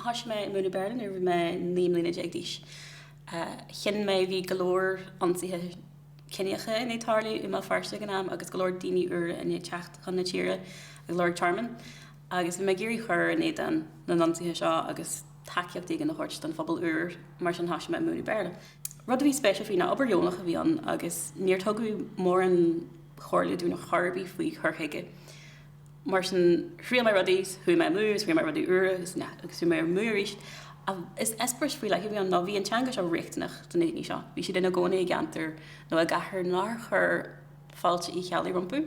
Thoisigh mé ag múineadh Béarla nuair bhí mé naoi mbliana déag d'aois. Cinn de bhí go leor ionsaithe ciníocha i ndiaidh tarlú i mBéal Feirste ag an am agus go leor daoine úra i ndiaidh teacht chun na tíre ag lorg tearmainn, agus bhí mé ag iarraidh cur in éadán na n-ionsaithe seo agus tacaíocht éigin a thabhairt don phobal úr, mar sin thoisigh mé ag múineadh Béarla. Rud a bhí spéisiúil faoi ná obair dheonach a bhí ann agus níor tugadh mórán comhairle dúinn chor ar bith faoi chur chuige. Mar sin, thriail mé rudaí, chuaigh mé amú agus rinne mé rudaí úra agus chuaigh mé amú arís. Agus eispéireas faoi leith a bhí ann ná bhí an teanga seo riachtanach do na daoine seo. Bhí siad ina gcónaí i gceantar nó i gcathair nár chuir fáilte Uí Cheallaigh rompu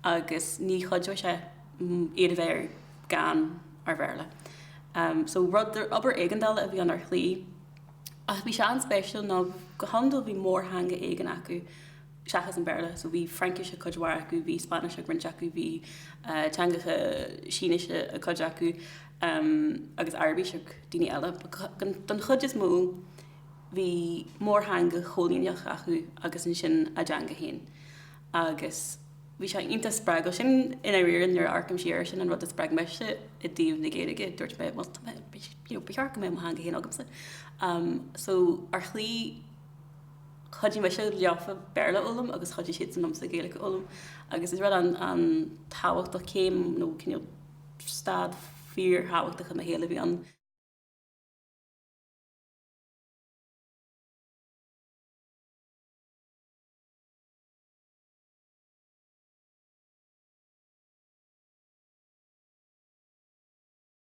agus ní chuideodh sé iad a bheith gan aon Bhéarla. So, rud, obair éigeandála a bhí ann ar shlí ach bhí sé an-spéisiúil ná go hiondúil bhí mórtheanga éigin acu, seachas an Béarla, so bhí Fraincis ag cuid mhaith acu, bhí Spáinnis ag roinnt acu, bhí teangacha Sínise ag cuid acu agus Araibis ag daoine eile. Don chuid is mó bhí mórtheanga chóilíneach acu agus ansin a dteanga féin agus bhí sé iontach spreagúil. Sin i ndáiríre nuair a amharcaim siar ar sin an rud a spreag mise i dtaobh na Gaeilge, dúirt mé, bhuel, ba cheart go mbeadh mo theanga féin agamsa. So ar shlí... chuidigh mise leofa Béarla a fhoghlaim agus chuidigh siadsan liomsa Gaeilge a fhoghlaim agus is rud an-tábhachtach, céim nó cineál stad fíorthábhachtach i mo shaol a bhí ann.